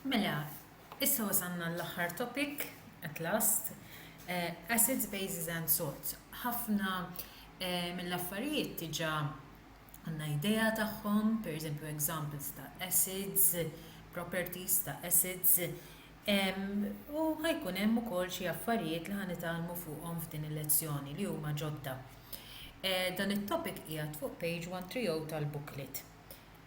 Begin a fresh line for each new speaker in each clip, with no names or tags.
Mela, issa wasalna għall-aħħar topic, at last, acids, bases and salts. Ħafna mill-affarijiet diġà għandna idea tagħhom, pereżempju examples ta' acids, properties ta' acids, u ħa jkun hemm ukoll xi affarijiet li ħa nitgħallmu fuqhom f'din il-lezzjoni li huma ġodda. Dan it-topic qiegħed fuq page 130 tal-booklet.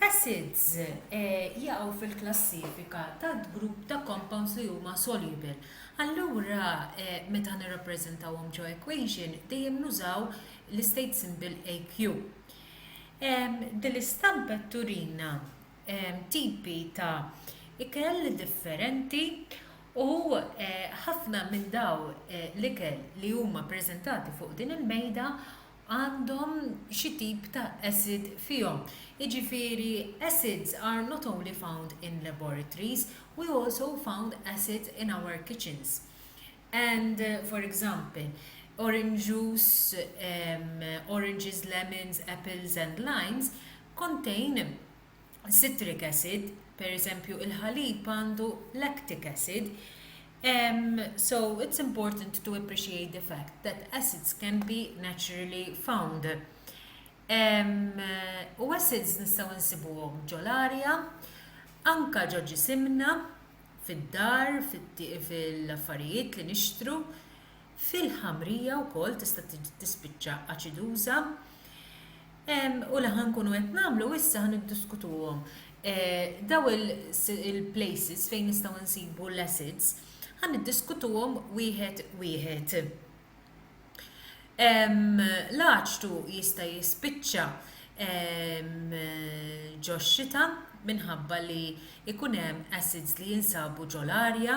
Acids jaqgħu fil-klassifika tad-grupp ta' compounds li huma soluble. Allura meta nirrappreżentawhom ġo equation dejjem nużaw l-istate symbol Aq. Din l-istampa qed turina tipi ta' ikel differenti u ħafna minn dawn l-ikel li huma ppreżentati fuq din il-mejda għandhom xi tip ta' acid fihom, jiġifieri acids are not only found in laboratories, we also found acids in our kitchens and for example orange juice, oranges, lemons, apples and limes contain citric acid, per eżempju il-ħalib għandu lactic acid. Um, so it's important to appreciate the fact that acids can be naturally found. Um, u acids nistaw nsibuhom ġol-arja, anka ġo ġisimna, fid-dar, fil-affarijiet li nixtru, fil-ħamrija wkoll tista' tispiċċa aċiduża u li ħa nkunu qed nagħmlu issa ħa niddiskutuhom. Daw il-places fejn nistgħu nsibu l-acids ħa niddiskutuhom wieħed wieħed. L-aċtu jista' jispiċċa ġo xita minħabba li ikun hemm acids li jinsabu ġo l-arja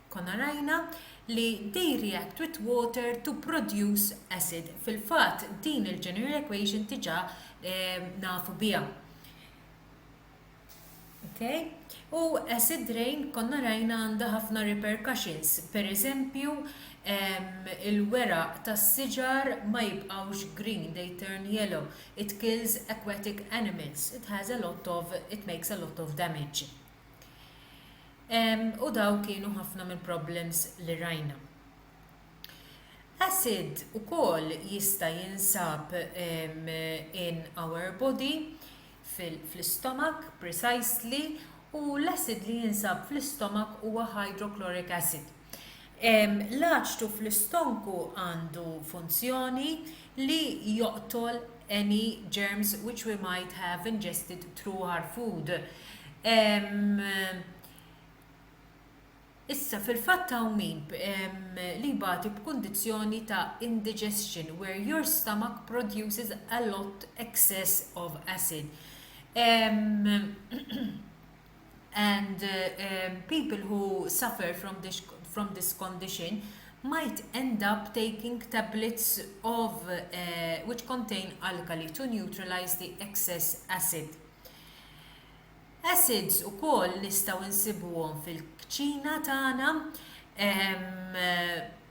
Konna rajna li they react with water to produce acid. Fil-fatt din il-general equation diġà eh, nafu biha. Okay? U acid rain konna rajna għandha ħafna repercussions. Per eżempju, il-weraq tas-siġar ma jibqawx green, they turn yellow. It kills aquatic animals. It has a lot of, it makes a lot of damage. U daw kienu ħafna mill-problems li rajna. Acid ukoll jista' jinsab in our body, fl-istomak precisely, u l-acid li jinsab fl-istomak huwa hydrochloric acid. L-aċtu fl-istonku għandu funzjoni li joqtol any germs which we might have ingested through our food. Issa, fil-fatt hawn min li jbati b'kundizzjoni ta' indigestion where your stomach produces a lot excess of acid. and people who suffer from this from this condition might end up taking tablets of which contain alkali to neutralize the excess acid acids ukoll nistgħu nsibuhom fil-kċina tagħna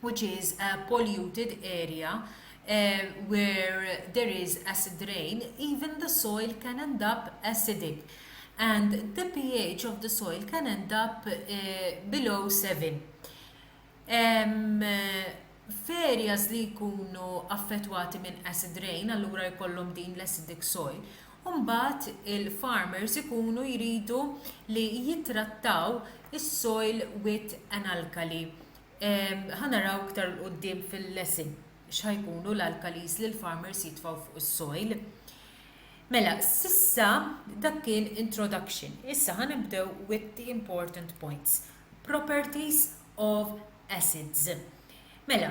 which is a polluted area uh, where there is acid rain, even the soil can end up acidic and the pH of the soil can end up uh, below 7. Um, f'areas li jkunu affettwati minn acid rain, allura jkollhom din l-acidic soil, u mbagħad il-farmers ikunu jridu li jittrattaw is-soil with an alkali. Ħa naraw iktar 'l quddiem fil-lesson x'ħa jkunu l-alkalis li l-farmers jitfgħu fuq is-soil. Mela, s'issa dak kien introduction. Issa ħa nibdew with the important points. Properties of acids. Mela,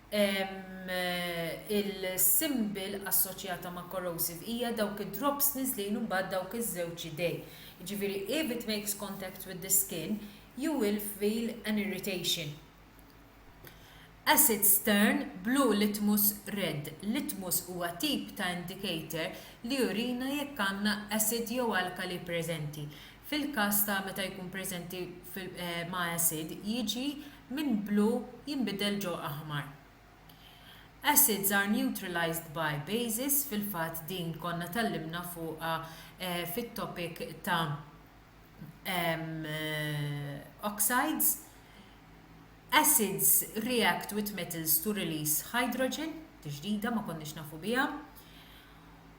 il-symbol assoċjata ma' corrosive hija dawk id-drops niżlin u mbagħad dawk iż-żewġ idej, jiġifieri if it makes contact with the skin you will feel an irritation. Acid stern blue litmus red litmus huwa tip ta' indicator li jurina jekk għandna acid jew alkali preżenti. Fil-każ ta' meta jkun preżenti ma' acid jiġi minn blu jinbidel ġo aħmar. Acids are neutralized by bases fil-fatt din konna tgħallimna fuqha fit-topic ta' oxides. Acids react with metals to release hydrogen, tiġdida ma konniex nafu biha.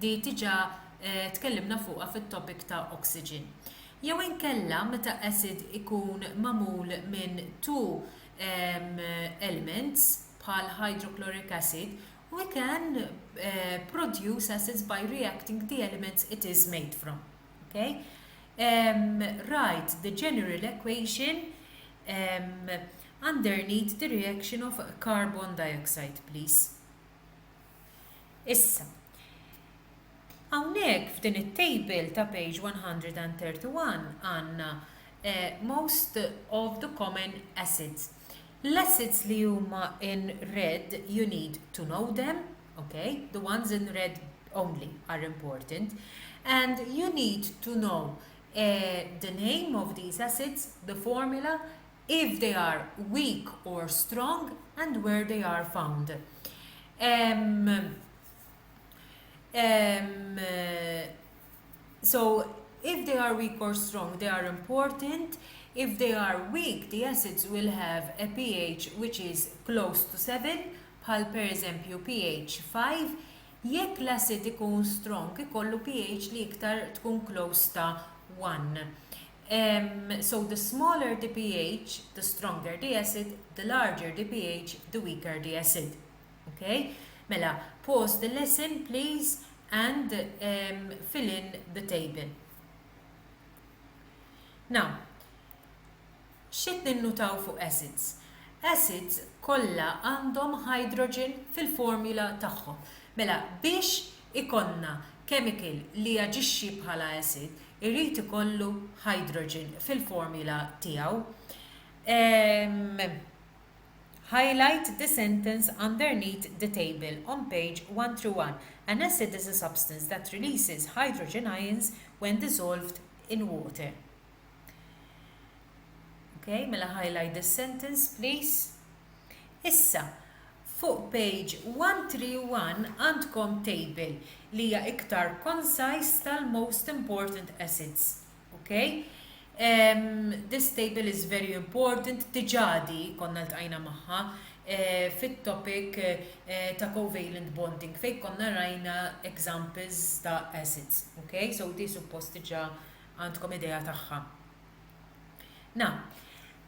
Di diġà tkellimna fuqha fit-topic ta' oxygen. Jew inkella meta acid ikun magħmul minn two elements bħal hydrochloric acid, we can produce acids by reacting the elements it is made from. Okay? Write the general equation underneath the reaction of carbon dioxide please. Issa, hawnhekk f'din it-table ta' page 131 għandna eh, most of the common acids. L-acids li huma in red you need to know them, okay? The ones in red only are important. And you need to know eh, the name of these acids, the formula, If they are weak or strong and where they are found. Um, um, so, if they are weak or strong, they are important. If they are weak, the acids will have a pH which is close to 7, bħal per eżempju pH 5, jekk l-acid ikun strong ikollu pH li iktar tkun close ta' 1. So the smaller the pH, the stronger the acid, the larger the pH, the weaker the acid. Okay? Mela, pause the lesson please and um, fill in the table. Now, xit ninnutaw fuq acids? Acids kollha għandhom hydrogen fil-formula tagħhom. Mela, biex ikollna chemical li jaġixxi bħala acid irid ikollu hydrogen fil-formula tiegħu. Ehm, highlight the sentence underneath the table on page 131. An acid is a substance that releases hydrogen ions when dissolved in water. Okay, mela highlight the sentence, please. Issa, Fuq page 131 għandkom table li hija iktar concise tal-most important assets. Ok? This table is very important, diġà di konna ltqajna magħha fit-topic ta' covalent bonding fejn konna rajna examples ta' assets. Ok? So di suppost diġà għandkom idea tagħha. Now,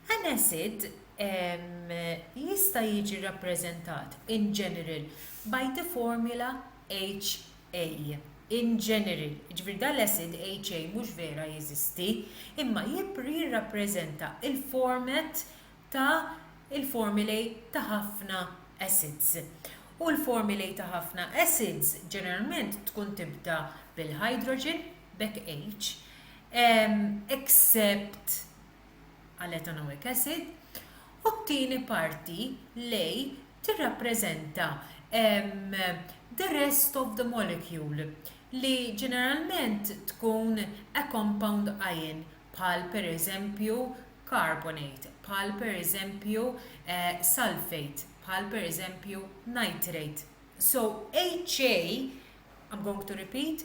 An asset jista' jiġi rrappreżentat in general by the formula HA. In general, jiġifieri dan l-asset HA mhux vera jeżisti, imma jirrappreżenta l-format ta' l-formulae ta' ħafna assets. U l-formulae ta' ħafna assets ġeneralment tkun tibda bil-hydrogen, b'hekk H, except, għal ethanolic acid, u t-tieni parti li tirrappreżenta the rest of the molecule, li ġeneralment tkun a compound ion, bħal pereżempju carbonate, bħal pereżempju sulphate, bħal pereżempju nitrate. So HA, I'm going to repeat,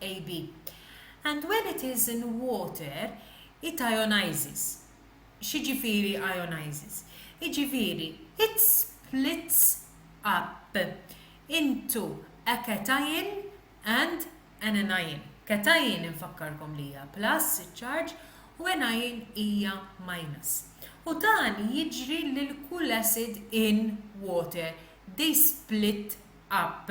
AB, and when it is in water it ionises. X'jiġifieri ionises? Jiġifieri it splits up into a cation and an anion. Cation infakkarkom li hija plus iċ-charge u anion hija minus. U dan jiġri lil kull acid in water, they split up.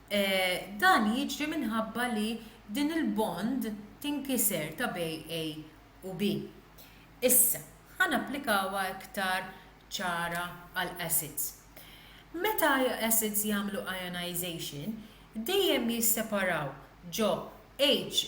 Dan jiġri minħabba li din il-bond tinkiser ta' bejn A u B. Issa, ħa napplikawha iktar ċara għal acids. Meta acids jagħmlu ionization, dejjem jisseparaw ġo H+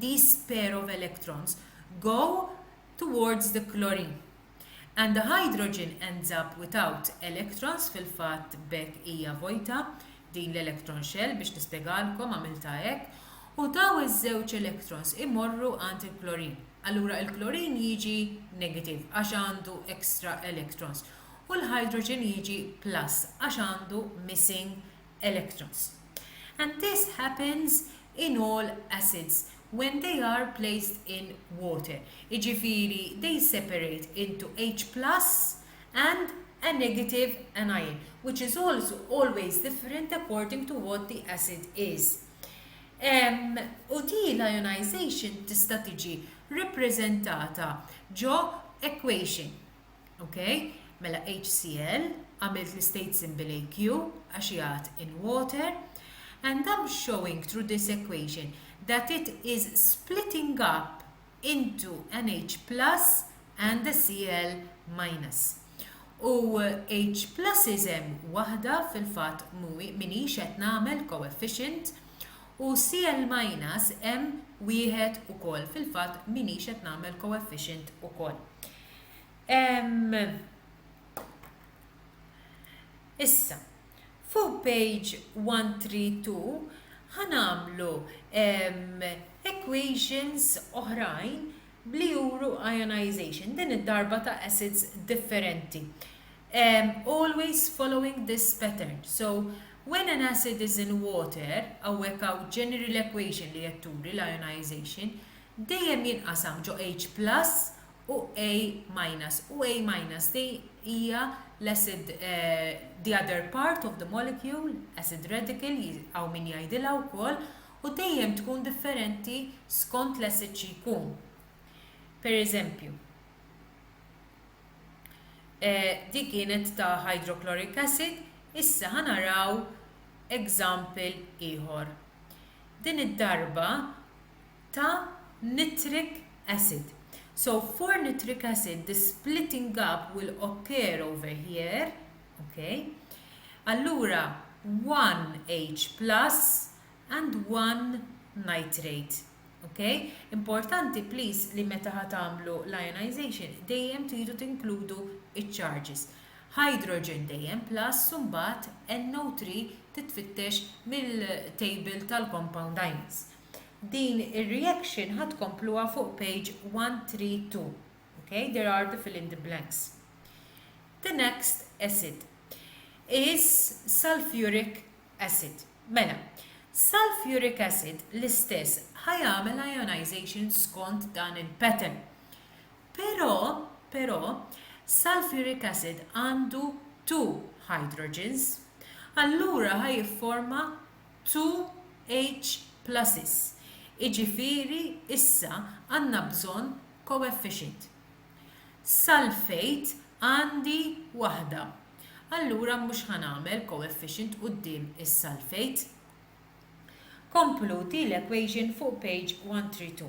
these pair of electrons go towards the chlorine and the hydrogen ends up without electrons fil-fatt b'hekk hija vojta din l-electron shell biex nispjegalkom għamiltha hekk u dawn iż-żewġ electrons imorru għand il-chlorine allura il-chlorine jiġi negative għax għandu extra electrons u l-hydrogen jiġi plus għax għandu missing electrons. And this happens in all acids when they are placed in water, jiġifieri they separate into H plus and a negative anion, which is also always different according to what the acid is. Um, u di l-ionization tista' tiġi reprezentata ġo equation Ok, mela HCl, għamilt l-istate symbol AQ għax jgħat in water, and I'm showing through this equation that it is splitting up into an H plus and a Cl minus. U H plus isem wahda fil-fat muwi minni xet namel coefficient u Cl minus em wieħed u kol fil-fat minni xet namel coefficient u kol. Issa, fuq page 132 ħa nagħmlu equations oħrajn li juru ionization, din id-darba ta' acids differenti. Um, always following this pattern. So, when an acid is in water, għawek għaw general equation li jetturi l-ionization, dejjem jinqasam ġo H plus u A minus. U A minus di hija l-acid the other part of the molecule, acid radical, hawn min jgħidilha wkoll, u dejjem tkun differenti skont l-acid xi jkun. Per eżempju, eh, di kienet ta' hydrochloric acid, issa ħanaraw example ieħor. Din id-darba ta' nitric acid. So for nitric acid the splitting up will occur over here, ok, allura 1H plus and 1 nitrate. Ok, importanti please li meta ħa tagħmlu l-ionization dejjem tridu tinkludu iċ-charges. Hydrogen dejjem plus u mbagħad NO3 titfittex mill-table tal-compound ions. Din ir-reaction ħa tkompluha fuq page 132. Ok, there are the fill in the blanks. The next acid is sulfuric acid. Mela, sulfuric acid l-istess ħajamel ionization skont dan il-pattern. Pero, pero, sulfuric acid għandu two hydrogens. Allura ħajifforma Two H pluses, jiġifieri issa għandna bżonn coefficient. Sulfate għandi waħda. Allura mhux ħa nagħmel coefficient quddiem is-sulfate. Kompluti l-equation fuq page 132.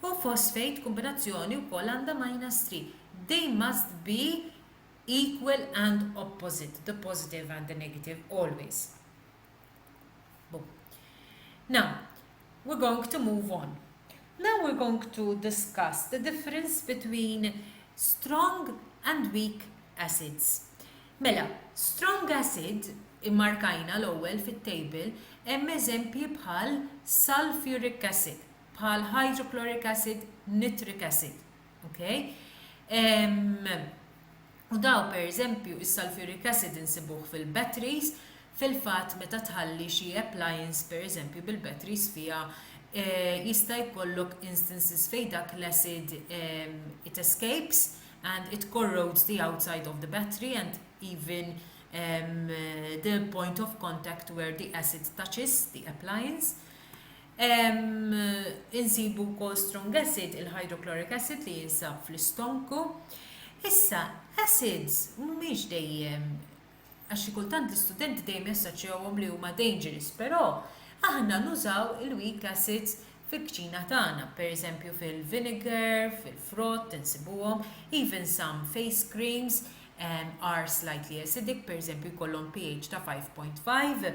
Hu phosphate kombinazzjoni wkoll għandha minus 3. They must be equal and opposite, the positive and the negative, always. Boom. Now, we're going to move on. Now we're going to discuss the difference between strong and weak acids. Mela, strong acid immarkajna l-ewwel fit-table hemm eżempji bħal sulfuric acid. bħal hydrochloric acid, nitric acid. Okay? Um, u daw per eżempju is-sulfuric acid insibuh fil-batteries, fil-fatt meta tħalli xi appliance per eżempju bil-batteries fiha eh, jista' jkollok instances fejn dak l-acid um, it escapes and it corrodes the outside of the battery and even um, the point of contact where the acid touches the appliance. Insibu wkoll strong acid, il-hydrochloric acid li jinsab fl-istonku. Issa, acids mhumiex dejjem għax xi kultant l-istudenti dejjem jassoċjawhom li huma dangerous, però aħna nużaw il-weak acids fil-kċina tagħna, pereżempju fil-vinegar, fil-frott insibuhom, even some face creams are slightly acidic, pereżempju jkollhom pH ta' 5.5.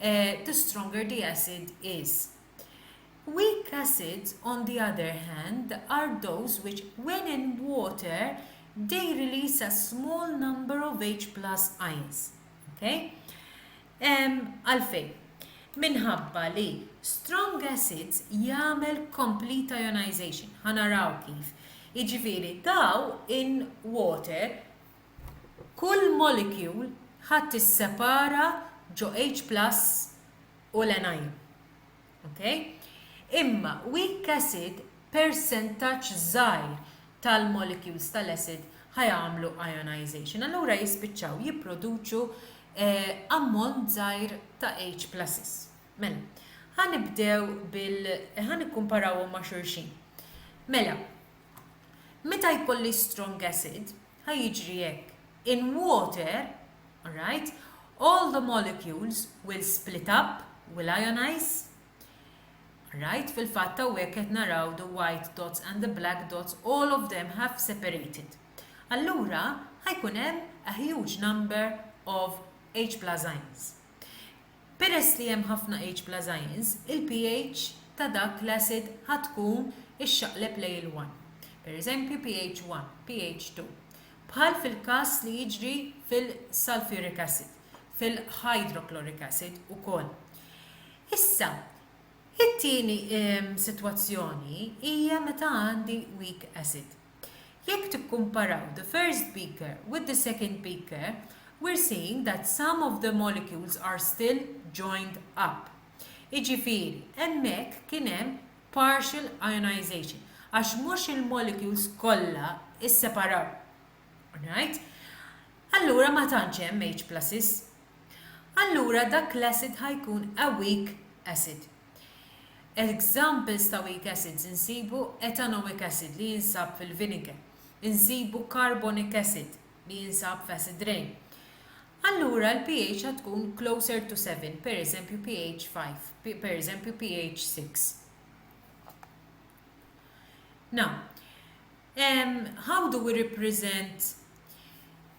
the stronger the acid is. Weak acids on the other hand are those which when in water they release a small number of H plus ions. Okay? Għalfejn? Minħabba li strong acids jagħmel complete ionization. Ħanaraw kif. Iġifieri daw in water Kull molecule ħa tissepara ġo H-plus u l-anion. Ok? Imma weak acid persentaġġ żgħir tal-molecules tal-acid ħa jagħmlu ionization. Allura jispiċċaw jipproduċu ammont żgħir ta' H-pluses. Mela, ħa nibdew bil ħa nikkumparawhom ma' xulxin. Mela, meta jkolli strong acid, Ħa jiġri hekk. In water, alright, all the molecules will split up, will ionize, alright, fil-fatt hawnhekk qed naraw the white dots and the black dots all of them have separated. Allura ħa jkun hemm a huge number of H plus ions. Peress li hemm ħafna H bla zajins, il-pH ta' dak l-acid ħa tkun ixxaqleb lejn il-one. Per eżempju pH 1, pH 2. Bħal fil-każ li jiġri fil-sulphuric acid, fil-hydrochloric acid ukoll. Issa, it-tieni sitwazzjoni hija meta għandi weak acid. Jekk tikkumparaw the first beaker with the second beaker, we're seeing that some of the molecules are still joined up. Jiġifieri, hemmhekk kien hemm partial ionization, għax mhux il-molecules kollha isseparaw. Right? Allura ma tantx hemm H pluses. Allura dak l-acid ħa jkun a weak acid. Examples ta' weak acids insibu ethanoic acid li jinsab fil-vinegar, insibu carbonic acid li jinsab f'acid rain. Allura l-pH għad tkun closer to 7, pereżempju pH 5, pereżempju pH 6. Now, um, how do we represent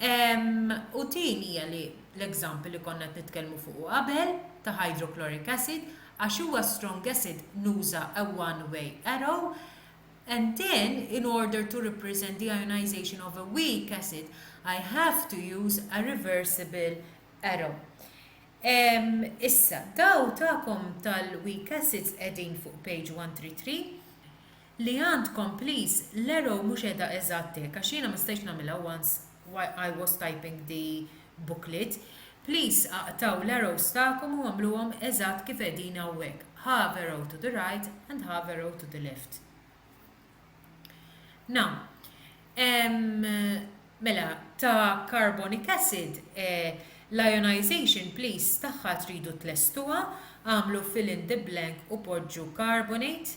U tieni hija li l-example li konna qed nitkellmu fuqu qabel ta' hydrochloric acid għax huwa strong acid nuża a one way arrow and then in order to represent the ionization of a weak acid I have to use a reversible arrow. Issa, daw ta'kom tal-weak acids qegħdin fuq page 133. Li għandkom please l-arrow mhux qiegħda eżatt hekk għax jiena ma stajtx nagħmilha once while I was typing the booklet. Please aqtgħu l-arrows tagħkom u għamluhom eżatt kif qegħdin hawnhekk, half arrow to the right and half arrow to the left. Now, ehm, mela, ta' carbonic acid, eh, l-ionization please tagħha tridu tlestuha, agħmlu fill in the blank u poġġu carbonate,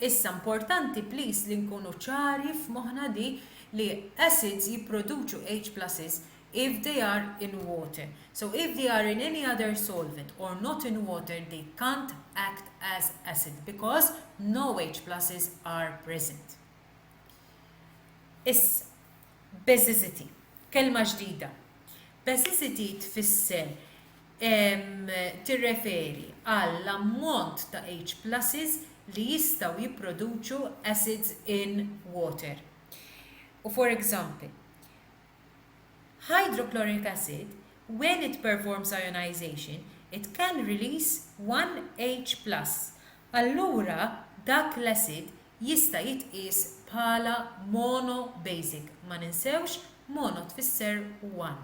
Issa importanti please li nkunu ċari f'moħħna di li acids jipproduċu H pluses if they are in water. So if they are in any other solvent or not in water they can't act as acid because no H pluses are present. Issa, Basicity, kelma ġdida. Basicity tfisser tirreferi għall-ammont ta' H-pluses li jistgħu jipproduċu acids in water. U for example, hydrochloric acid, when it performs ionization, it can release one H plus, allura dak l-acid jista' jitqies bħala monobasic, ma ninsewx mono tfisser one,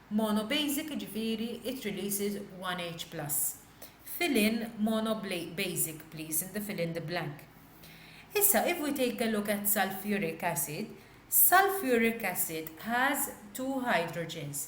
monobasic jiġifieri it releases one H plus. Fill in monobasic please in the fill in the blank. Issa if we take a look at sulphuric acid, sulphuric acid has two hydrogens,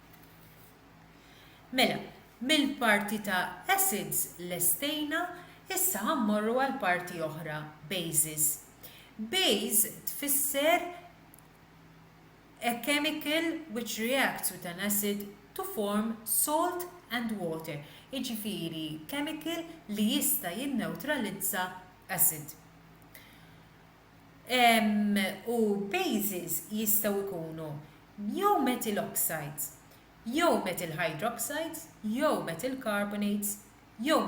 Mela, mill-parti ta' acids lestejna, issa ħa mmorru għal parti oħra, bases. Base tfisser a chemical which reacts with an acid to form salt and water, jiġifieri chemical li jista' jinnewtralizza acid. u bases jistgħu jkunu jew methyl oxides, jew methyl hydroxides, jew methyl carbonates, jew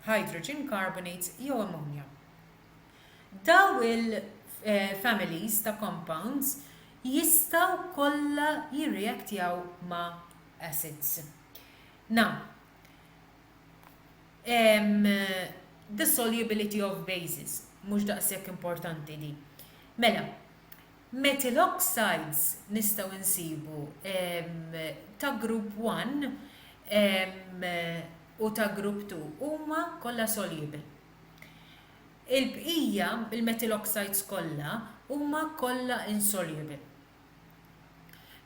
hydrogen carbonates jew ammonia. Dawn il-families ta' compounds jistgħu kollha jirreaktjaw ma' acids. Na. the solubility of bases, mhux daqshekk importanti di. Mela, methyl oxides nistgħu nsibu ta' group 1 u ta' group 2 huma kollha soluble. Il-bqija, il-methyl oxides kollha huma kollha insoluble.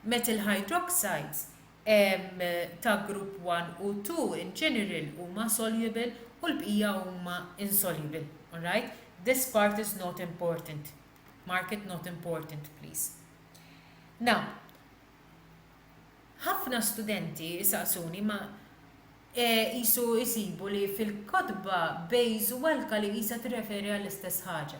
Methyl hydroxides ta' grupp 1 u 2 in general huma soluble u l-bqija huma insoluble. Alright? This part is not important. Mark it not important please. Now, ħafna studenti jsaqsuni ma qisu jsibu li fil-kotba base u alkali qisha tirreferi għall-istess ħaġa.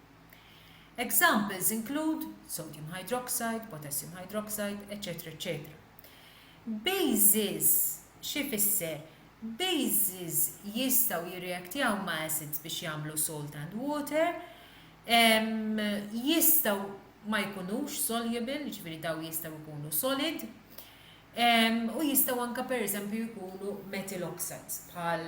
Examples include sodium hydroxide, potassium hydroxide, etc. etc. Bases xi fisser? Bases jistgħu jirreaktjaw ma' acids biex jagħmlu salt and water, jistgħu ma jkunux soluble, jiġifieri daw jistgħu jkunu solid, u jistgħu anke pereżempju jkunu methyl oxides bħal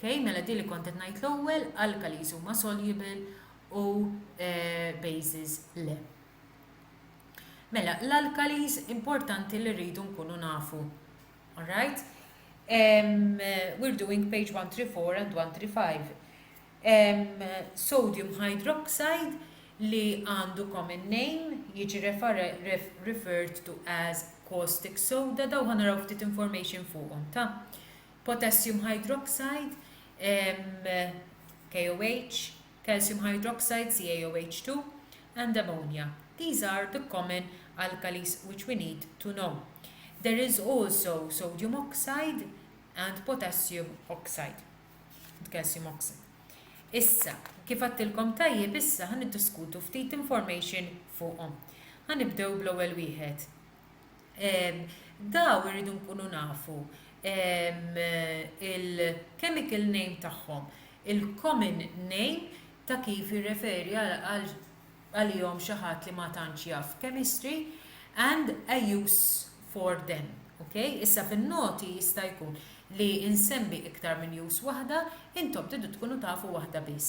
Kay, Mela di li kont qed ngħid l-ewwel, alkalis huma soluble u bases le. Mela, l-alkalis importanti li rridu nkunu nafu. All right? Um, we're doing page 134 and 135. Um, sodium hydroxide li għandu common name jiġi referred to as caustic soda daw ħanaraw ftit information fuqhom ta' potassium hydroxide, KOH, calcium hydroxide, CaOH2, and ammonia, these are the common alkalis which we need to know. There is also sodium oxide and potassium oxide, and calcium oxide. Issa, kif għattilkom tajjeb issa ħa niddiskutu ftit information fuqhom. Ħa nibdew bl-ewwel wieħed, daw irridu nkunu nafu il-chemical name tagħhom, il-common name ta' kif jirreferi għalihom xi ħadd li ma tantx jaf chemistry, and a use for them. Ok? Issa fin-noti jista' jkun li nsemmi iktar minn use waħda, intom tridu tkunu tafu waħda biss.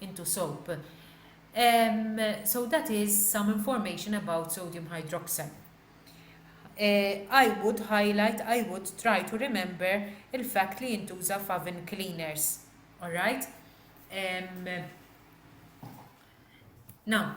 into soap. Um, so that is some information about sodium hydroxide. Uh, I would highlight, I would try to remember il-fact li jintuża f'oven cleaners. Alright? Um, now,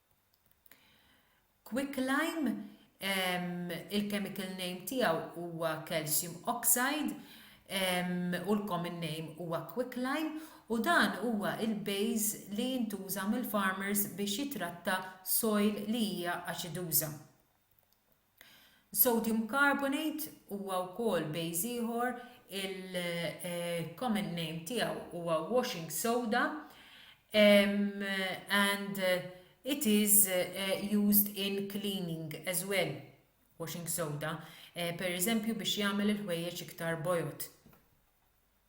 Quicklime, il-chemical name tiegħu huwa calcium oxide u l-common name huwa quicklime u dan huwa l-base li jintuża mill-farmers biex jitratta soil li hija aċiduża. Sodium carbonate huwa wkoll base ieħor il-common name tiegħu huwa washing soda and it is used in cleaning as well, washing soda, pereżempju biex jagħmel il-ħwejjeġ iktar bojod.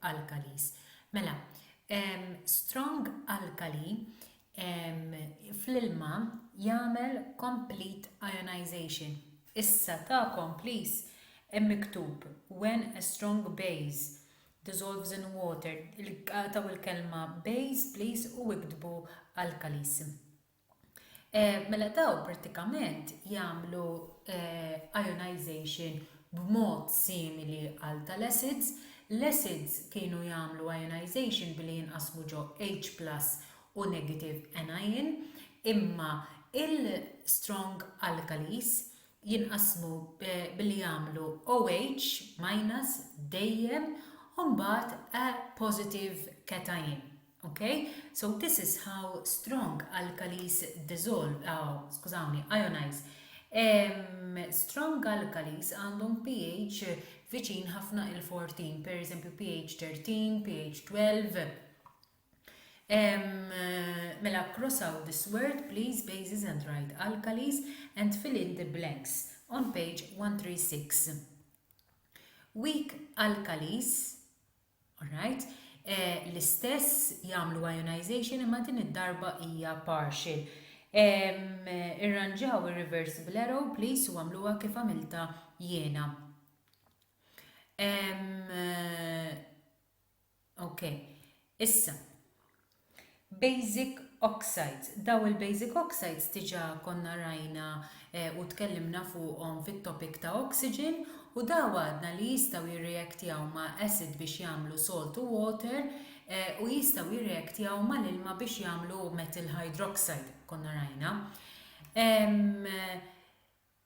alkalis. Mela, ehm, strong alkali ehm, fl-ilma jagħmel complete ionization. Issa tagħkom please hemm miktub when a strong base dissolves in water, il-qataw il-kelma base please u iktbu alkalis. Eh, mela daw prattikament jagħmlu eh, ionization b'mod simili għal tal-acids. L-acids kienu jagħmlu ionization billi jinqasmu ġo H plus u negative anion, imma il-strong alkalis jinqasmu eh, billi jagħmlu OH minus dejjem u mbagħad a positive cation. Ok, so this is how strong alkalis dissolve, oh, skużawni, ionize. Um, strong alkalis għandhom pH viċin ħafna il-14, per eżempju pH 13, pH 12. Um, mela cross out this word, please, bases and right alkalis, and fill in the blanks on page 136. Weak alkalis Alright. L-istess jagħmlu ionization imma din id-darba hija partial. Irranġaw ir-reversible arrow please u għamluha kif għamilta jiena. Okay. Issa, Basic oxides, daw il-basic oxides diġà konna rajna u tkellimna fuqhom fit-topic ta' oxygen u daw għadna li jistgħu jirreactjaw ma' acid biex jagħmlu salt u water u jistgħu jirreactjaw mal-ilma biex jagħmlu methyl hydroxide konna rajna.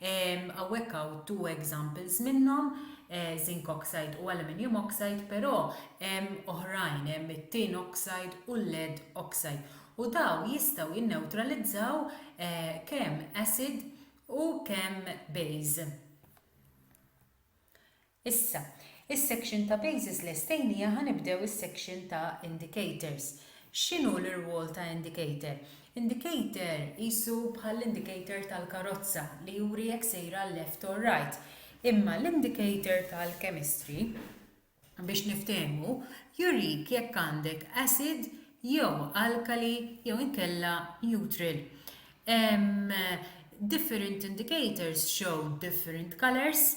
Hawnhekk hawn two examples minnhom, zinc oxide u aluminium oxide, però hemm oħrajn, hemm it-tin oxide u l-lead oxide, u dawn jistgħu jinnewtralizzaw kemm acid u kemm base. Issa, is-section ta' bases lestejn hija ħa nibdew is-section ta' indicators. X'inhu l-irwol ta' indicator? Indicator qisu bħall-indicator tal-karozza li juri jekk sejra left or right. Imma l-indicator tal-chemistry, biex niftehmu, jurik jekk għandek acid jew alkali jew inkella neutral. Different indicators show different colours.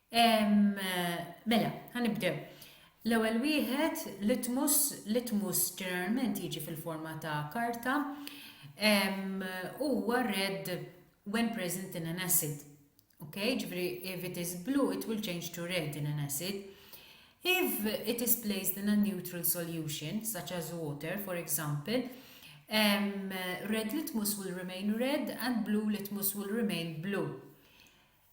Mela, ħanibdew. L-ewwel wieħed, litmus, litmus ġeneralment jiġi fil-forma ta' karta, huwa red when present in an acid. Ok, ġifri if it is blue it will change to red in an acid. If it is placed in a neutral solution, such as water for example, um, red litmus will remain red and blue litmus will remain blue.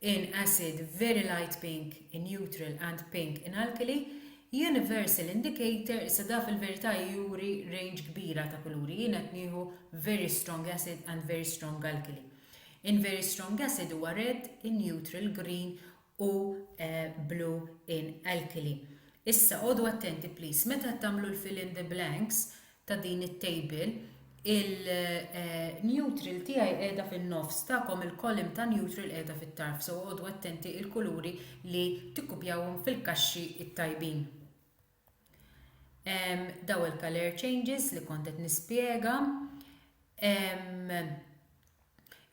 in acid, very light pink in neutral and pink in alkali, universal indicator, issa da fil-verità juri range kbira ta' kuluri, jien qed nieħu very strong acid and very strong alkali. In very strong acid huwa red, in neutral green u blue in alkali. Issa għodu attenti please, meta tagħmlu l-fill in the blanks, ta' din it-table, il-neutral tiegħi qiegħda fin-nofs, tagħkom il-column ta' neutral qiegħda fit-tarf, so oqogħdu attenti il-kuluri li tikkupjawhom fil-kaxxi t-tajbin. Daw il-color changes li kont qed nispjega.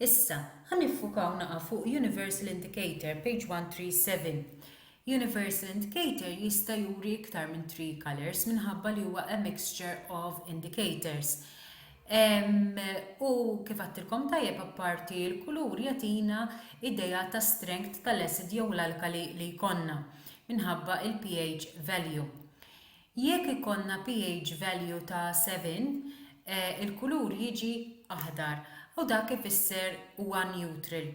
Issa, ħa niffukaw naqa' fuq Universal Indicator, page 137. Universal Indicator jista' juri iktar minn three colours minħabba li huwa a mixture of indicators. Um, u kif għattilkom tajjeb apparti l-kulur jatina ideja ta' strength tal-acid jew l-alkali li jkonna minħabba il-pH value. Jekk ikollna pH value ta' 7, il-kulur jiġi aħdar u dak ifisser huwa neutral.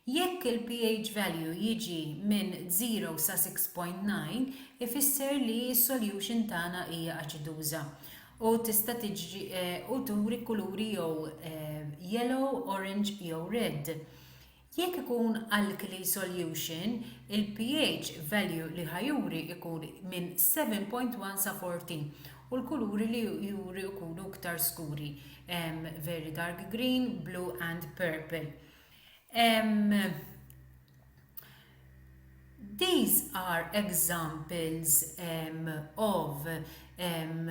Jekk il-pH value jiġi minn 0 sa 6.9 ifisser li s-solution tagħna hija aċiduża u tista' u turi kuluri jew yellow, orange jew red. Jekk ikun alkali solution, il-pH value li ħa juri jkun minn 7.1 sa 14 u l-kuluri li juri jkunu iktar skuri, very dark green, blue and purple. Um, These are examples um, of um,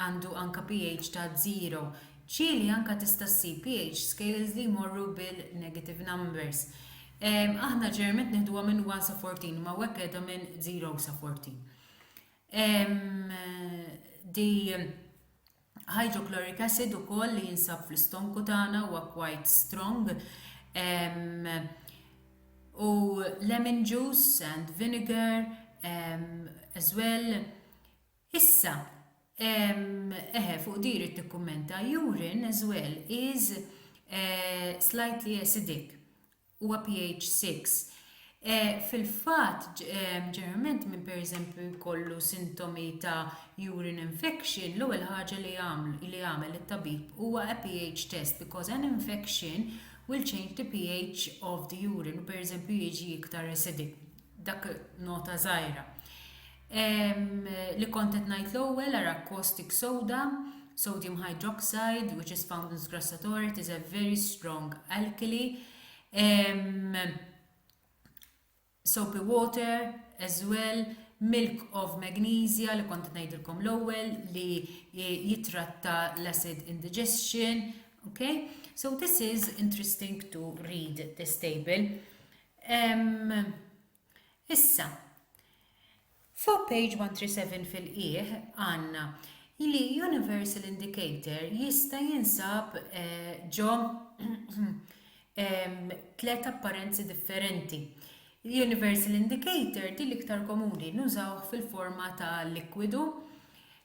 Għandu anka pH ta' zero. Ċili anka tista' ssib pH scales li jmorru bil-negative numbers. Aħna ġeneralment nieħduha minn 1 sa 14 imma hawnhekk qiegħda minn 0 sa 14. Di hydrochloric acid ukoll li jinsab fl-istonku tagħna huwa quite strong. Um, u lemon juice and vinegar um, as well Issa, eħe, fuq di jrid nikkummenta, urine as well is slightly acidic, huwa pH 6. Fil-fatt, ġeneralment minn pereżempju jkollu sintomi ta' urine infection, l-ewwel ħaġa li jagħmel it-tabib huwa a pH test because an infection will change the pH of the urine u pereżempju jiġi iktar acidic. Dak nota żgħira. Li kont qed ngħid l-ewwel ara caustic soda, sodium hydroxide which is found in sgrassatore, it is a very strong alkali. Soapy water as well, milk of magnesia li kont ngħidilkom l-ewwel li jitratta l-acid indigestion, okay? So this is interesting to read this table. Issa, fuq page 137 fil-qieħ għandna li universal indicator jista' jinsab eh, ġo tlet apparenzi differenti. Universal indicator di l-iktar komuni nużaw fil-forma ta' likwidu.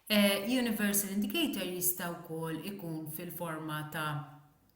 Eh, universal indicator jista' wkoll ikun fil-forma ta'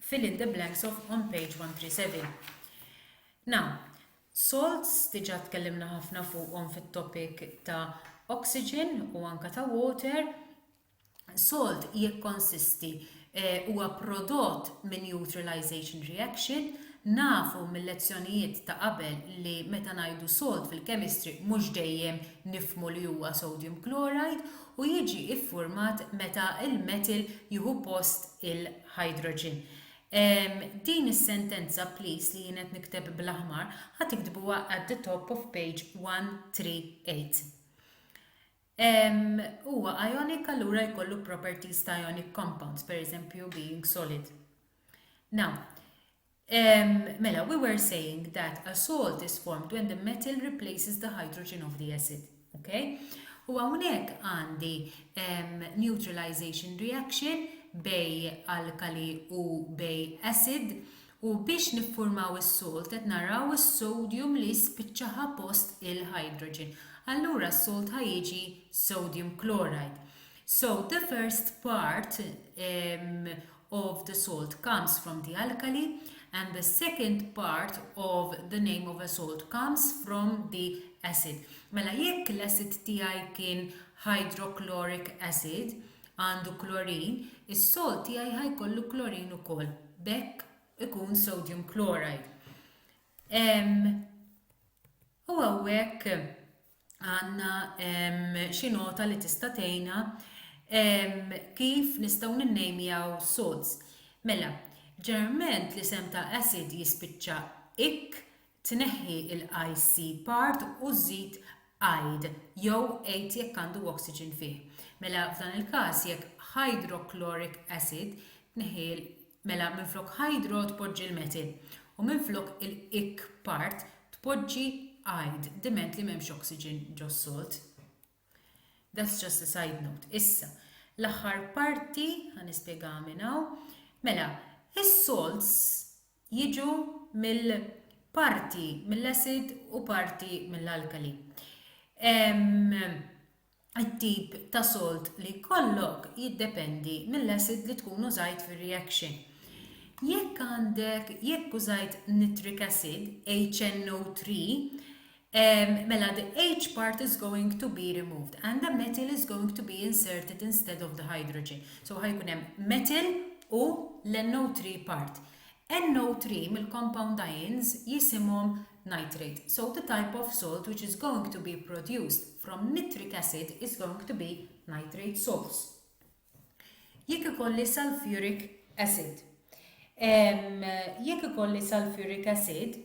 fill in the blanks of on page 137. Now, salts diġà tkellimna ħafna fuqhom fit-topic ta' oxygen u anka ta' water. Salt jikkonsisti eh, huwa prodott minn neutralization reaction Nafu mill-lezzjonijiet ta' qabel li meta ngħidu salt fil-kemistri mhux dejjem nifmu li huwa sodium chloride u jiġi iffurmat meta il-metal jieħu post il hydrogen. Ehm, din is-sentenza please li jien qed nikteb bl-aħmar ħa tiktbuha at the top of page 138. Ehm, huwa ionic allura jkollu properties ta' ionic compounds, per eżempju being solid. Now, Um, mela, we were saying that a salt is formed when the metal replaces the hydrogen of the acid. Okay? U hawnhekk għandi um, neutralization reaction bej alkali u bej acid u biex niffurmaw is-salt qed naraw is-sodium li spiċċaħa post il-hydrogen. Allura s-salt ħajġi sodium chloride. So the first part um, of the salt comes from the alkali and the second part of the name of a salt comes from the acid. Mela jekk l-acid tiegħi kien hydrochloric acid għandu klorin, is-salt tiegħi ħajkollu klorin ukoll. Bekk ikun sodium chloride. U hawnhekk għandna xi nota li tista' tgħinna kif nistgħu ninnejmjaw sods. Mela, ġeneralment l-isem ta' acid jispiċċa ik, tneħħi l-IC part u żid aid jew ate jekk għandu oxygen fih. Mela f'dan il-każ jekk hydrochloric acid tneħħi Mela minflok hydro tpoġġi l-metil, u minflok il-ic part tpoġġi ide, diment li m'hemmx oxygen ġos-salt. That's just a side note. Issa, l-aħħar parti, ħa nispjegaha minn hawn. Mela, is-salts jiġu mill parti mill-acid u parti mill-alkali. Ehm, It-tip ta' solt li jkollok jiddependi mill-acid li tkun użajt fir-reaction. Jekk għandek jekk użajt nitric acid, HNO3, Um, mela, the H part is going to be removed and the metal is going to be inserted instead of the hydrogen. So ħajkun hemm metal u l-NO3 part. NO3 mill-compound ions jisimhom nitrate, so the type of salt which is going to be produced from nitric acid is going to be nitrate salts. Jekk ikolli sulfuric acid, jekk ikolli sulfuric acid,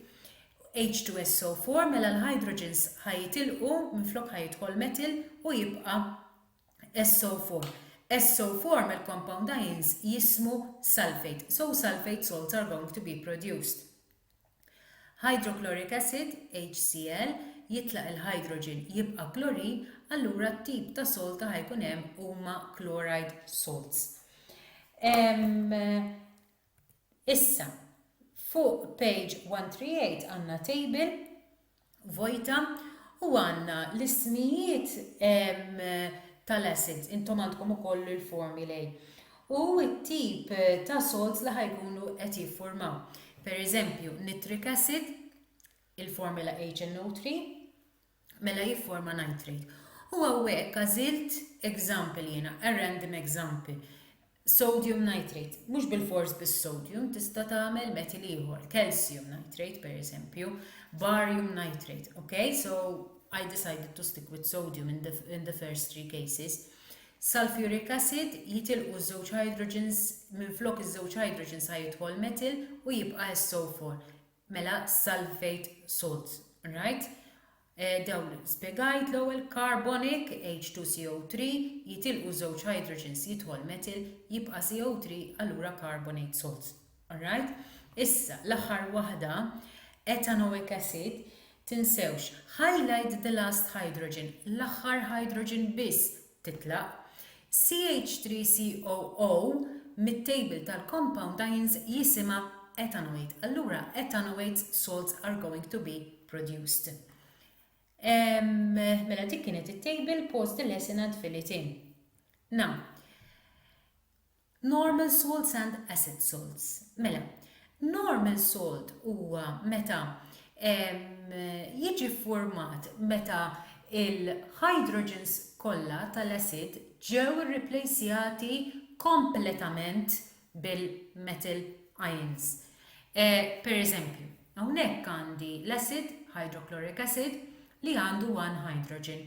H2SO4 mela l-hydrogens ħajitilqu minn flok ħajidħol metil u jibqa' SO4. SO4 mill-compound ions jismu sulfate, so sulfate salts are going to be produced. Hydrochloric acid, HCl, jitlaq il-hydrogen jibqa' klorin allura t-tip ta' salt li ħa jkun hemm huma chloride salts. Issa, fuq page 138 għandna table vojta u għandna l-ismijiet tal-assets, intom għandkom ukoll il-formulae, u t-tip ta' salts li ħajkunu qed jiffurmaw. Per eżempju, nitric acid, il-formula HNO3, mela jifforma nitrate. U għawek għazilt example jena, a random example, Sodium nitrate, mhux bilfors bis-sodium, tista' tagħmel metal ieħor, calcium nitrate pereżempju, barium nitrate, ok? So I decided to stick with sodium in the, in the first three cases. Sulfuric acid jitilqu żewġ hydrogens minn flok iż-żewġ hydrogens sa jidħol metal u jibqa' SO4. Mela sulfate salts, right? Dawli, spjegajt l-ewwel carbonic, H2CO3, jitilqu żewġ hydrogens jidħol methyl jibqa' CO3 allura carbonate salts. Alright? Issa, l-aħħar waħda, ethanoic acid, tinsewx, highlight the last hydrogen, l-aħħar hydrogen biss, titlaq, CH3COO mit-table tal-compound ions jisimha ethanoate. Allura ethanoate salts are going to be produced. Mela dik kienet it-table pause the lesson and fill it in. Now, Normal salts and acid salts. Mela, normal salt huwa meta jiġi ffurmat meta l-hydrogens kollha tal-asid ġew irriplejsjati kompletament bil-metal ions. Per eżempju, hawnhekk għandi l-asid, hydrochloric acid, li għandu one hydrogen.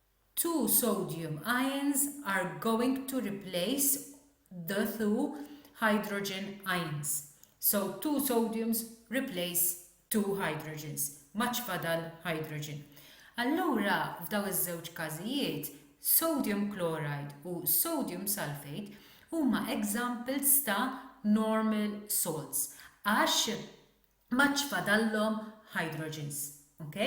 Two sodium ions are going to replace the two hydrogen ions. So two sodiums replace two hydrogens. M'għadx fadal hydrogen. Allura f'dawn iż-żewġ każijiet, sodium chloride u sodium sulphate huma examples ta' normal salts għax m'għadx fadallhom hydrogens. Ok?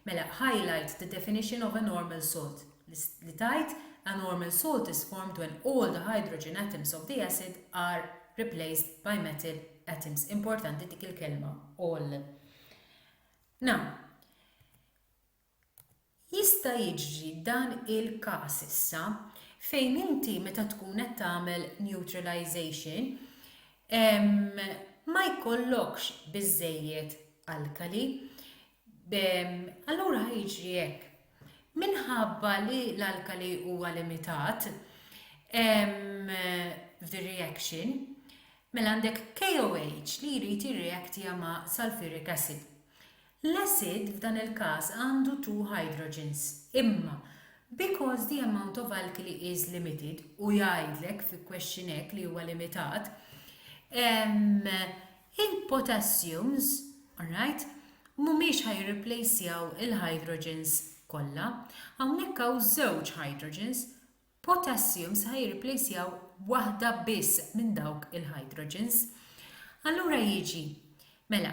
Mela, highlight the definition of a normal salt li tgħid a normal salt is formed when all the hydrogen atoms of the acid are replaced by metal atoms. Importanti dik il-kelma all. Now, Jista' jiġri dan il-każ issa fejn inti meta tkun qed tagħmel neutralization ma jkollokx biżżejjed alkali. Allura ħa jiġri hekk, minħabba li l-alkali huwa limitat f'din reaction, mela għandek KOH li jrid jirreactja ma' sulphuric acid. L-asid f'dan il-każ għandu two hydrogens, imma because the amount of alkali is limited, u jgħidlek fi question hekk li huwa limitat, ehm, il-potassiums, alright, mhumiex ħa jirriplejsjaw il-hydrogens kollha. Hawnhekk hawn żewġ hydrogens, potassiums se ħa jirriplejsjaw waħda biss minn dawk il-hydrogens. Allura jiġi, mela,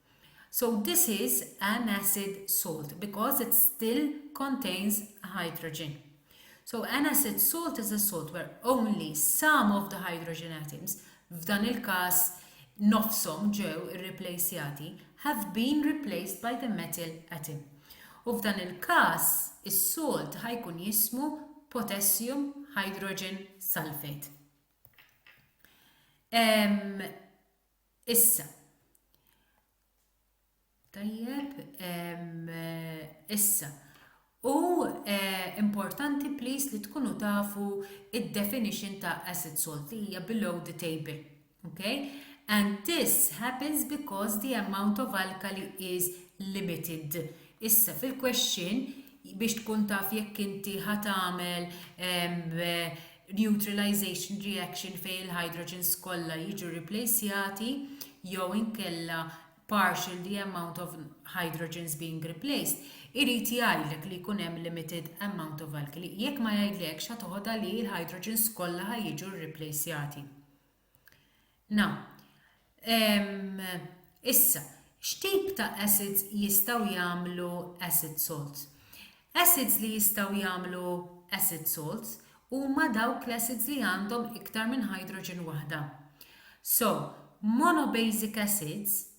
So this is an acid salt because it still contains hydrogen. So an acid salt is a salt where only some of the hydrogen atoms, f'dan il-każ nofshom ġew irriplejsjati, have been replaced by the metal atom. U f'dan il-każ is-salt ħajkun jismu potassium hydrogen sulfate. Um, Issa. Tajjeb, issa. U eh, importanti please li tkunu tafu id-definition ta' asset salt li hija below the table. Okay? And this happens because the amount of alkali is limited. Issa fil-question biex tkun taf jekk inti ħatamel neutralization reaction fejn il-hydrogens kollha jiġu replacjati jew inkella partial the amount of hydrogens being replaced, irid jgħidlek li jkun hemm limited amount of alkali. Jekk ma jgħidlekx, ħa toħodha li l-hydrogens kollha ħa jiġu rreplacjati. Na. Ehm, issa, x'tip ta' acids jistgħu jagħmlu acid salts? Acids li jistgħu jagħmlu acid salts huma dawk l-acids li għandhom iktar minn hydrogen waħda. So, monobasic acids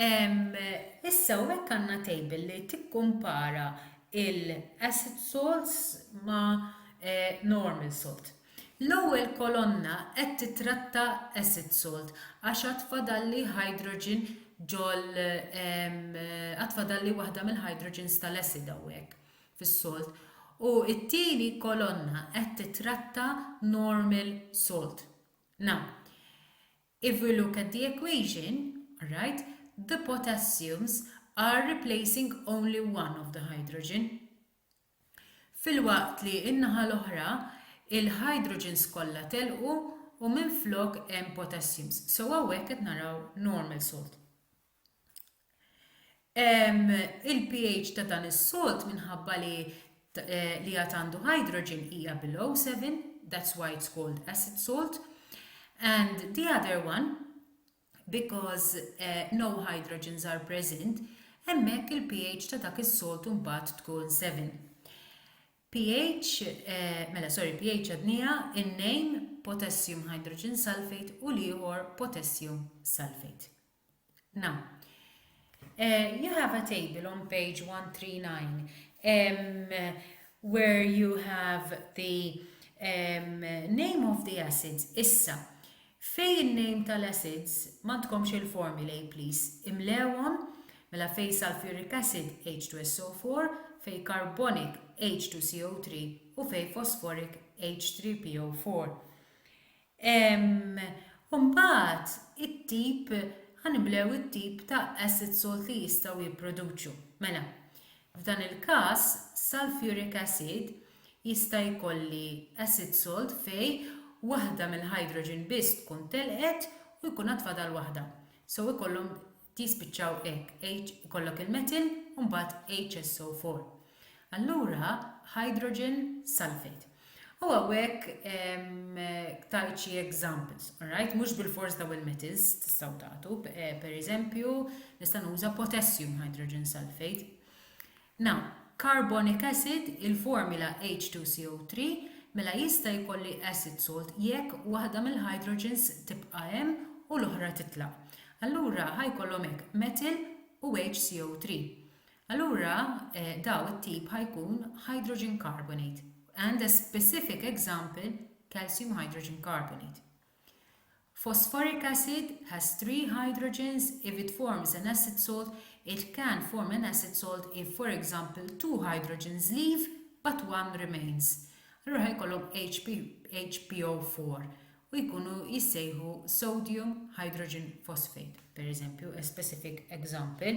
Issa hawnhekk għandna table li tikkumpara l-asset salt ma' normal salt. L-ewwel kolonna qed titratta asset salt għax għad fadalli hydrogen ġol għad fadalli waħda mill-hydrogens tal-acid hawnhekk fis-salt u t-tieni kolonna qed titratta normal salt. Now, If we look at the equation, alright, the potassiums are replacing only one of the hydrogen. Filwaqt li n-naħa l-oħra, il-hydrogens kollha telqu u minflok hemm potassiums. So hawnhekk qed naraw normal salt. Il-pH ta' dan is-solt minħabba li li għad għandu hydrogen hija below 7, that's why it's called acid salt. And the other one, because uh, no hydrogens are present, hemmhekk il-pH ta' dak is-solt mbagħad tkun 7. pH, eh, mela sorry, pH għadnija in-name potassium hydrogen sulfate u l-ieħor potassium sulfate. Na. Eh, you have a table on page 139 um, where you have the um, name of the acids. Issa, fej il-name tal-acids, mandkomx il-formulae, please, imlewon, mela fej sulfuric acid H2SO4, fej carbonic H2CO3 u fej phosphoric H3PO4. U mbagħad it-tip, ħa niblew it-tip ta' acid salt li jistgħu jipproduċu. Mela, f'dan il-każ, sulfuric acid jista' jkolli acid salt fej waħda mill-hydrogen biss tkun telqet u jkun għad fadal waħda. So ikollhom tispiċċaw hekk, H ikollok il-metil u mbagħad HSO4. Allura hydrogen sulfate. U għawek tajt xie examples, alright? Mux bil-fors daw il-metals tistaw tatu, eh, per eżempju, nista' nuża potassium hydrogen sulfate. Na. Carbonic acid, il-formula H2CO3, mela jista' jkolli acid salt jekk waħda mill-hydrogens tibqa' hemm u l-oħra titlaq. Allura ħa jkollhom hekk methyl u HCO3. Allura daw it-tip ħa jkun hydrogen carbonate and a specific example calcium hydrogen carbonate. Phosphoric acid has three hydrogens if it forms an acid salt it can form an acid salt if for example two hydrogens leave but one remains allura ħa jkollhom HPHPO4 u jkunu jissejħu sodium hydrogen phosphate pereżempju a specific example.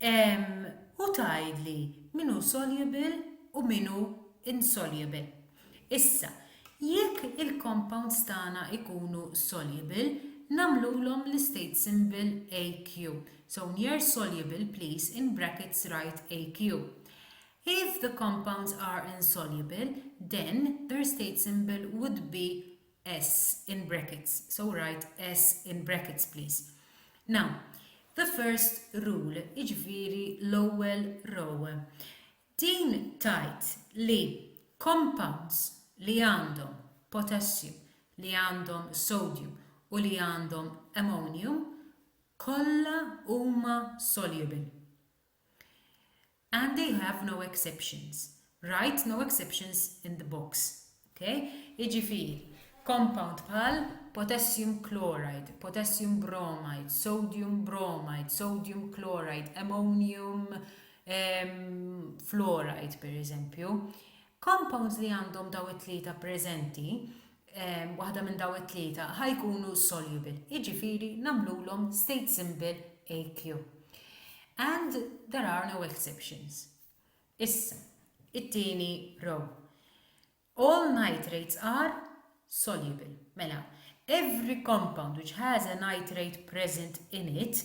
U tgħidli min hu soluble u min hu insoluble. Issa, jekk il-compounds tagħna jkunu soluble, nagħmlulhom l-istate symbol Aq. So near soluble please in brackets write Aq. If the compounds are insoluble, then their state symbol would be S in brackets, so write S in brackets please. Now, the first rule, iġviri l-ewwel row. Din tajt li compounds li għandhom potassium, li għandhom sodium u li għandhom ammonium kollha huma soluble. and they have no exceptions, write no exceptions in the box, ok? Jiġifieri, compound bħal potassium chloride, potassium bromide, sodium bromide, sodium chloride, ammonium ehm, fluoride pereżempju, compounds li għandhom dawn it-tlieta preżenti waħda minn daw it-tlieta ħa jkunu soluble, jiġifieri nagħmlulhom state symbol AQ. And there are no exceptions. Issa, it-tieni row. All nitrates are soluble. Mela, every compound which has a nitrate present in it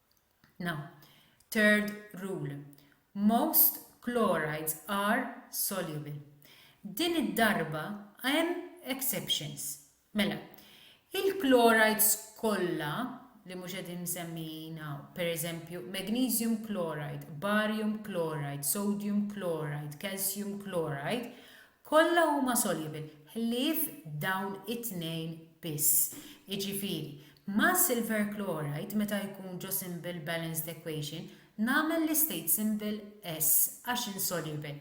Now, third rule, most chlorides are soluble. Din id-darba hemm exceptions. Mela, il-chlorides kollha li mhux qegħdin msemmijin hawn, pereżempju magnesium chloride, barium chloride, sodium chloride, calcium chloride, Kollha huma soluble, ħlief dawn it-tnejn biss. Jiġifieri, ma' silver chloride, meta jkun ġo symbol balanced equation, nagħmel l-istate symbol S għax insoluble.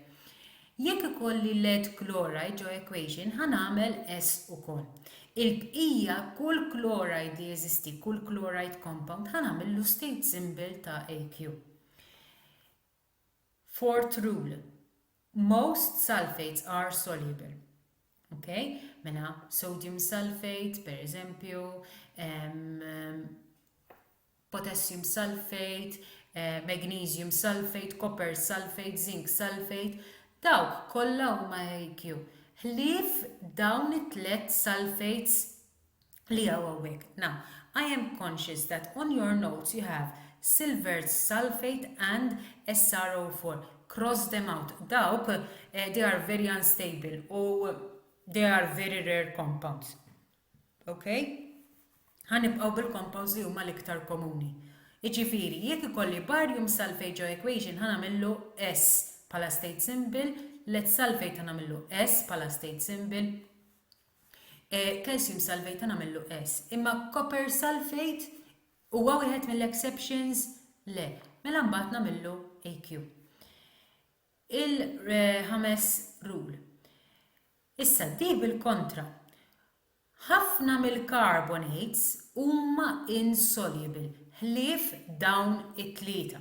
Jekk ikolli lead chloride ġo equation, ħa nagħmel S ukoll. Il-bqija, kull chloride li jeżisti, kull chloride compound, ħa nagħmillu state symbol ta' Aq. Fourth rule, most sulfates are soluble. Ok? Mela, sodium sulfate, per eżempju, um, potassium sulfate, uh, magnesium sulfate, copper sulfate, zinc sulfate, dawk kollha huma AQ. Ħlief dawn it-tlet sulfates li hawn hawnhekk. Now, I am conscious that on your notes you have silver sulphate and SRO4. Cross them out. Dawk, eh, they are very unstable u they are very rare compounds. Okay? Ħanibqgħu bil-compounds li huma l-iktar komuni. Iġifiri, jekk ikolli barium sulfate ġo equation ħanamillu S pala state symbol, let sulfate ħanamillu S pala state symbol, Calcium sulfate ta' nagħmillu es. Imma copper sulfate huwa wieħed mill-exceptions le. Mela mbagħad nagħmillu AQ. Il-ħames rule. Issa di bil-kontra. Ħafna mill-carbonates huma insoluble ħlief dawn it-tlieta.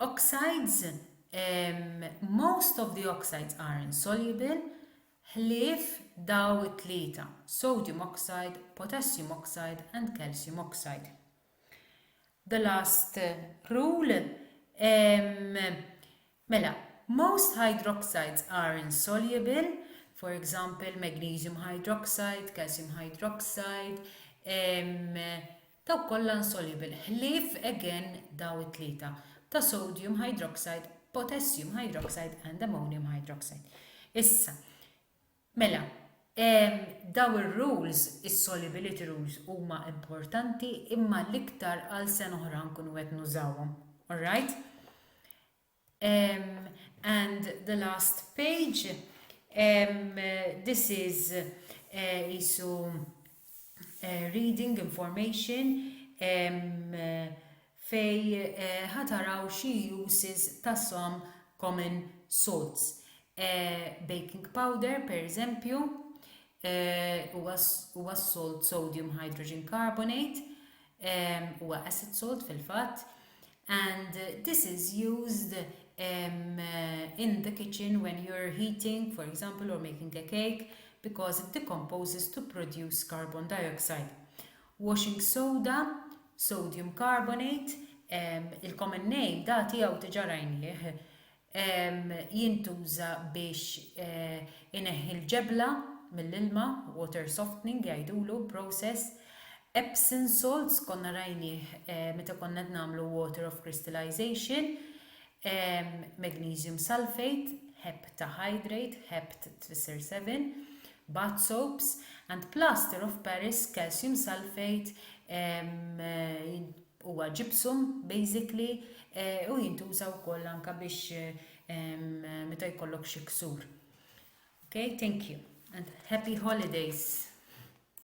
Oxides, Most of the oxides are insoluble, ħlief daw it-tlieta, sodium oxide, potassium oxide and calcium oxide. The last rule, mela, most hydroxides are insoluble, for example, magnesium hydroxide, calcium hydroxide, Dawk kollha insoluble, ħlief again daw it-tlieta, ta' sodium hydroxide, potassium hydroxide and ammonium hydroxide. Issa, mela, daw ir-rules, is-solubility rules huma importanti imma l-iktar għal sena oħra nkunu qed nużawhom. Alright? Um, and the last page, um, this is uh, isu uh, reading information um, uh, fej uh, ħataraw uh, xi uses ta' some common salts. Uh, baking powder, per eżempju, Huwa s-solt sodium hydrogen carbonate, huwa acid salt fil-fatt, and this is used um, in the kitchen when you're heating, for example, or making a cake, because it decomposes to produce carbon dioxide. Washing soda, sodium carbonate, um, il-common name da tiegħu tiġa rajnieh, jintuża biex ineħħi l-ġebla mill-ilma, water softening jgħidulu, process, Epsom salts konna rajnieh meta konna qed nagħmlu water of crystallisation, magnesium sulphate, heptahydrate, hept tfisser seven, bath soaps, and plaster of paris, calcium sulphate, Huwa gypsum basically u jintuża wkoll anke biex meta jkollok xi ksur. Okay, thank you and happy holidays!